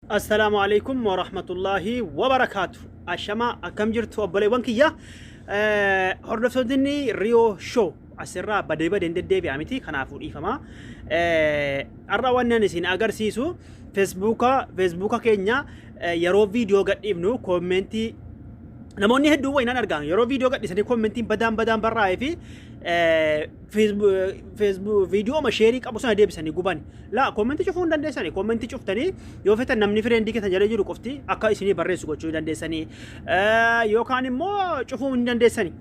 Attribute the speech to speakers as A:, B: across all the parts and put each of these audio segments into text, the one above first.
A: Assalaamu alaikum wa rahmatullahi wa barakaatu. Ashamaa akkam jirtu obboleewwan kiyya. Eh, Hordoftoonni Riyoo Show asirraa badee badeen deddeebi'a miti kanaafuu dhiifama. Eh, Har'a waan nan isin agarsiisu Feesbuuka Feesbuuka keenya eh, yeroo viidiyoo gadhiifnu koomentii namoonni hedduun wayinaan argaanu yeroo viidiyoo gadhiisanii koomentiin badaan badaan barraa'ee fi eh, viidiyooma sheerii qabu sana deebisanii gubani. Laa koommentii cufuu hin dandeessani. Koommentii cuftanii yoo fetan namni fireendii keessan jala jiru qofti akka isinii barreessu gochuu hin dandeessanii. Yookaan immoo cufuu hin dandeessani.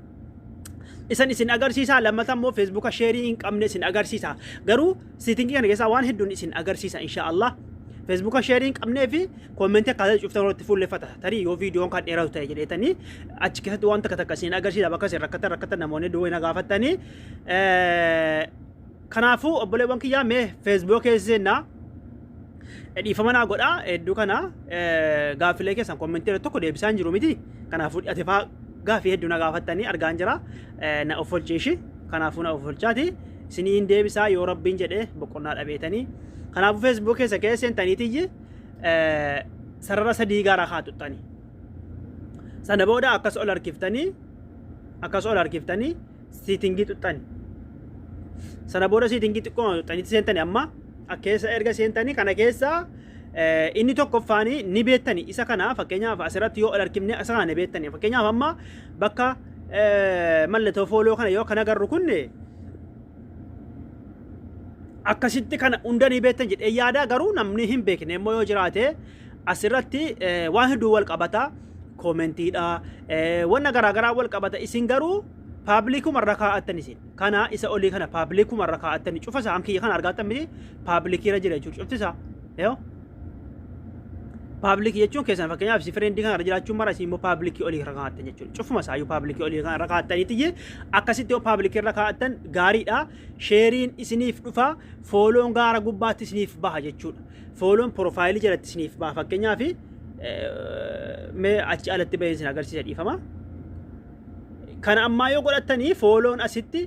A: Isan isin agarsiisaa lammata immoo feesbuuka sheerii hin qabne isin agarsiisa. Garuu Setting kana keessaa waan hedduun isin agarsiisa insha Allah. Feesbuuka sheerii hin qabnee fi koomentii akkaataa cuftan irratti fuulleffata. Tarii yoo viidiyoon kan dheeratu ta'e jedheetanii achi keessatti waan takka takka isin agarsiisa bakka isin rakkatan rakkatan namoonni duwwaa na gaafattanii. Kanaafuu obboleewwan kiyyaa mee feesbuuka keessa seenaa Dhiifama naa godha hedduu kana gaaffilee keessan kommentii irratti tokko deebisaa hin jiru miti. Kanaafuu ati faa gaaffii hedduu na gaafattanii argaan jira. Na of olchiishi. Kanaafuu na of olchaati. Isinii hin deebisaa yoo rabbiin jedhee boqonnaa dhabeetanii. Kanaafuu feesbuuk keessa keessa seentaniitiyyi sarara sadii gaara haa tuttanii. Sana booda akkas ol harkiftanii akkas ol harkiftanii siitingii xuxxani. Sana booda siitingii xiqqoo xuxxanitti seentani amma keessa erga seentanii kana keessaa inni tokkoffaanii ni beettani isa kana fakkeenyaaf asirratti yoo ol harkifne isa kana ni beettani fakkeenyaaf amma bakka mallattoo fooloo kana yoo kana garru kunne akkasitti kana hunda ni beektan jedhee yaada garuu namni hin beekne immoo yoo jiraate asirratti waan hedduu wal qabata koomentiidha wanna garaagaraa wal qabata isin garuu paabilikuma irra kaa'attan isin kana isa olii kana paabilikuma irra kaa'attan cufa isaan kiyya kana argaattan miti paabilikiirra jira jechuudha cufti isaa yoo paabilikii jechuun keessan fakkeenyaaf si fireendi kana irra jiraachuun mara isin immoo paabilikii olii irra kaa'attan jechuudha cufuma isaa iyyuu paabilikii olii kana irra kaa'attaniiti iyyee akkasitti yoo paabilikii irra kaa'attan gaariidha sheeriin isiniif dhufa fooloon gaara gubbaatti isiniif baha jechuudha. Fooloon piroofaayilii jalatti isiniif ba'a fakkeenyaaf mee achi alatti bahee isin agarsiisa dhiifama. Kana ammaa yoo godhattanii fooloon asitti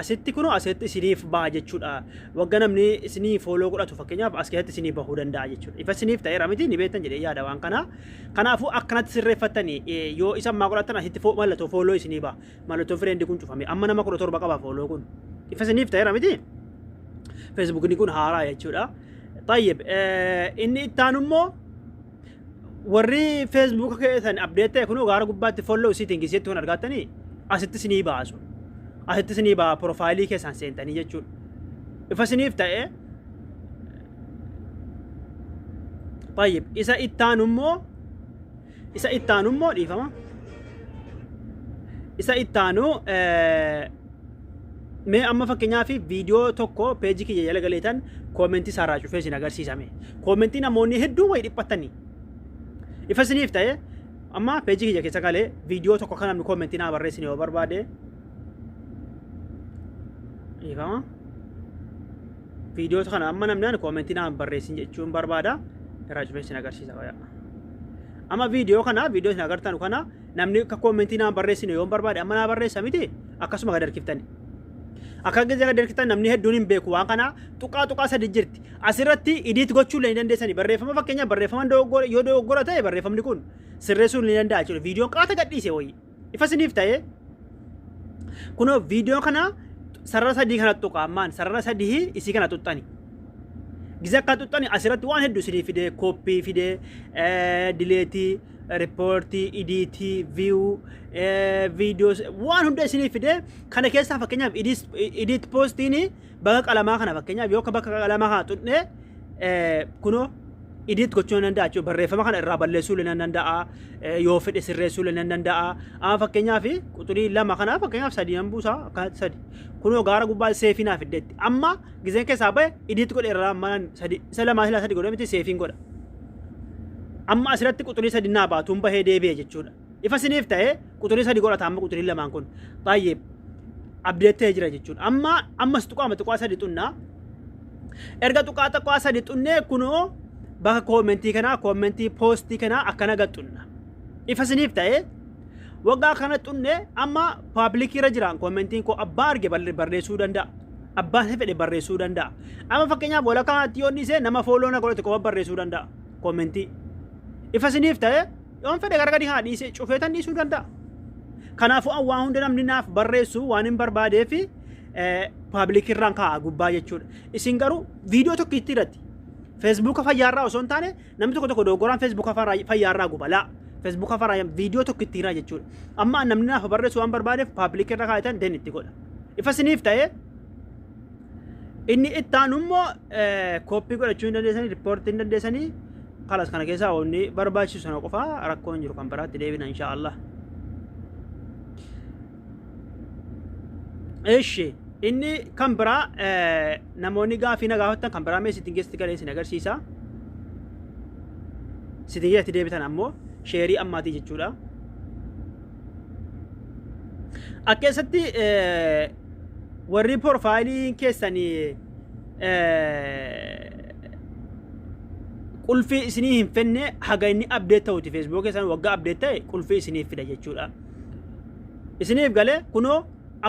A: asitti kunoo asitti isiniif ba'a jechuudha. Wagga namni isinii fooloo godhatu fakkeenyaaf as keessatti isinii bahuu danda'a jechuudha. Ifa isiniif ta'eera miti ni beektan jedhee yaada waan kanaa. Kanaafuu akkanatti sirreeffattanii yoo isa ammaa godhattan asitti mallattoo fooloo isinii ba'a. Mallattoo fireendi kun cufame. Amma nama kudha torba qaba fooloo kun. Ifa isiniif ta'eera miti? Feesbuukni kun haaraa jechuudha. Tayyib inni ittaan immoo warri feesbuuka keessan abdeet ta'e kunoo gaara gubbaatti folloo siitingi isheetti kun argattanii asitti isinii baasu. Asitti isinii baa piroofaayilii keessan seentanii jechuudha. Ifa isiniif ta'ee Tayyib isa ittaan immoo Isa itti aanu immoo dhiifama. Isa itti aanu mee amma fakkeenyaaf viidiyoo tokko peejii kiyya jala galeetan koomentii isaa irraa cufee isin agarsiisame. Koomentii namoonni hedduu wayi dhiphattanii. Ifa isiniif ta'e amma peejii kiyya keessa galee viidiyoo tokko kan namni koomentii naa barreessin yoo barbaade. Dhiifama. Viidiyoo kana amma namni ani koomentii naan barreessin jechuun barbaada irraa cufee isin agarsiisa qoyaa. Amma viidiyoo kana viidiyoo isin agartan kana namni akka koomentii naan barreessine yoon barbaade amma naa barreessa miti akkasuma gad harkiftani. Akka gizee gad harkiftan namni hedduun hin beeku waan kana tuqaa tuqaa sadi jirti. Asirratti idiit gochuu illee ni dandeessani barreeffama fakkeenyaaf barreeffama dogoggora yoo dogoggora ta'e barreeffamni kun sirreessuun ni danda'a jechuudha. Viidiyoon qaata gadhiise wayii. Ifa isiniif ta'ee kunoo viidiyoo kana sarara sadii kana tuqa ammaan sarara sadii isii kana tuqxani. Gisa akka tuqxani asirratti waan hedduu isinii fidee kooppii fidee dileetii riippoortii idiitii viiyuu viidiyoo waan hunda isinii fidee kana keessaa fakkeenyaaf idiit poostiinii Bakka qalamaa kana fakkeenyaaf yoo bakka qalamaa kana tuqne kunoo idiit gochuu nan danda'a jechuudha. Barreeffama kana irraa balleessuu illee nan danda'a. Yoo fedhe sirreessuu illee nan danda'a. Amma fakkeenyaaf quxurii lama kana fakkeenyaaf sadii nan buusa akkanatti sadi. Kunoo gaara gubbaa seefii naaf iddeetti. Amma gizeen keessaa ba'e idiit godhe irraa amma sadi isa lamaa silaa sadi godhe miti seefiin godha. Amma asirratti quxurii sadi naa baatuun bahee deebi'e jechuudha. Ifa isiniif ta'e quxurii sadi godhata amma quxurii lamaan kun. Xayyib. Abdeettee jira jechuudha. Amma ammas tuqaama tuqaa sadi xunnaa. Erga tuqaa tuqaa sadi xunnee kunoo bakka koomentii kanaa koomentii poostii kanaa akkana gad xunna. Ifa isiniif ta'e waggaa kana xunne amma paablikii irra jiraan koomentiin koo abbaa arge barre- barreessuu danda'a. Abbaa isa fedhe barreessuu danda'a. Amma fakkeenyaaf walakkaa kanatti yoo inni nama fooloo na godhate qofa barreessuu danda'a koomentii. Ifa isiniif ta'e Yoon fedhe gara gadi haa dhiisee cufeetan dhiisuu danda'a. Kanaafuu an waa hunda namni naaf barreessu waan hin barbaadee fi paabilikii irraan kaa'a gubbaa jechuudha. Isin garuu viidiyoo tokko itti irratti feesbuuka fayyaarraa osoo hin taane namni tokko tokko dogoggoraan feesbuuka fayyaarraa guba laa. Feesbuuka fayyaa viidiyoo tokko itti hiraa jechuudha. Amma namni naaf barreessu waan barbaadeef paabilikii irra kaa'etan den itti godha. Ifa isiniif ta'ee Inni itti aanu immoo kooppii godhachuu hin dandeessanii, riippoortii hin dandeessanii, kalas kana keessaa wanni barbaachisu sana qofaa rakkoo hin jiru kan biraatti deebina insha Allah. Eshi inni kan biraa namoonni gaafii na gaafattan kan biraa mee sitting keessatti galee isin agarsiisa. Sitting keessatti deebitan ammoo sheerii ammaatii jechuudha. Akka keessatti warri porfaayiliin keessan qulfii isinii hin fenne haga inni abdeet ta'uti feesbuuk keessan waggaa abdeet ta'e qulfii isiniif fida jechuudha. Isiniif galee kunoo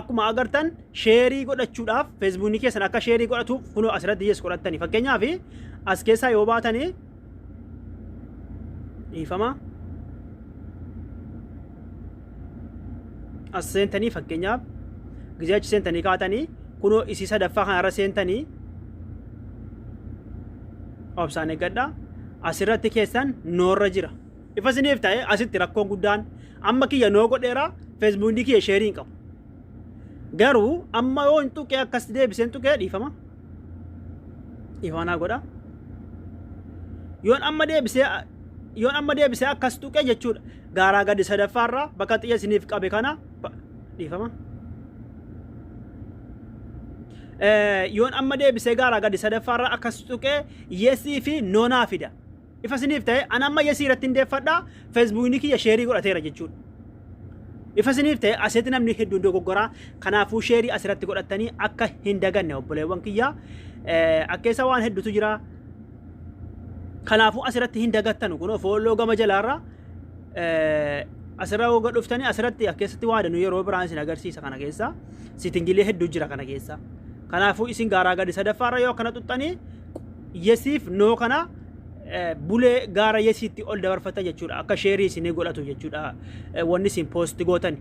A: akkuma agartan sheerii godhachuudhaaf feesbuukni keessan akka sheerii godhatuuf kunoo asirratti yes godhattani fakkeenyaaf as keessaa yoo baatanii dhiifama as seentanii fakkeenyaaf gizee achi seentanii kaatanii kunoo isii sadaffaa kanarra seentanii obsaan eeggadha asirratti keessan noorra jira ifa isiniif ta'e asitti rakkoon guddaan amma kiyya noo godheera feesbuukii kiyya sheerii hin qabu garuu amma yoo hin tuqee akkas deebiseen tuqee dhiifama dhifamanaa godha yoon amma deebisee yoon amma deebisee akkas tuqe jechuudha gaaraa gadi sadaffaa irraa bakka xiyya isiniif qabe kana ba- dhiifama Eh, yoon amma deebisee gaaraa gadi sadaffaa irraa akkas tuqe yesii fi noonaa fida Ifa isiniif ta'e an amma yesii irratti hin deeffadha feesbuukni kiyya sheerii godhateera jechuudha. Ifa isiniif ta'e asitti namni hedduun dogoggora kanaafuu sheerii asirratti godhattanii akka hin daganne obboleewwan kiyya akka isa waan hedduutu jira. Kanaafuu asirratti hin dagattanu kun fooloo gama jalaarra asirra hogga dhuftanii asirratti akka keessatti waa danuu yeroo biraan isin agarsiisa kana keessa sitingilee hedduu jira kana keessa. Kanaafuu isin gaaraa gadi sadaffaarra yoo akkana xuxxanii yesiif noo kana bulee gaara yesiitti ol dabarfata jechuudha akka sheerii isinii godhatu jechuudha wanni isin poosti gootani.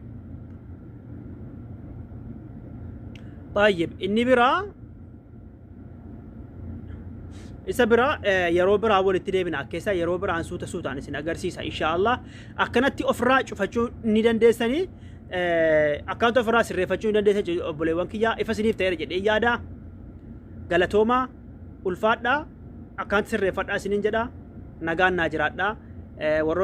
A: Baay'ee inni biraa isa biraa yeroo biraa walitti deebina akkeessa yeroo biraan suuta suutaan isin agarsiisa inshaallah akkanatti ofirraa cufachuu ni dandeessanii akkaanta ofirraa sirreeffachuu ni dandeessa obboleewwan kiyyaa ifa isiniif ta'eera jedhee yaada. Galatoomaa ulfaadhaa akkaanti sirreeffadhaa isiniin jedha nagaan naa jiraadhaa warroonni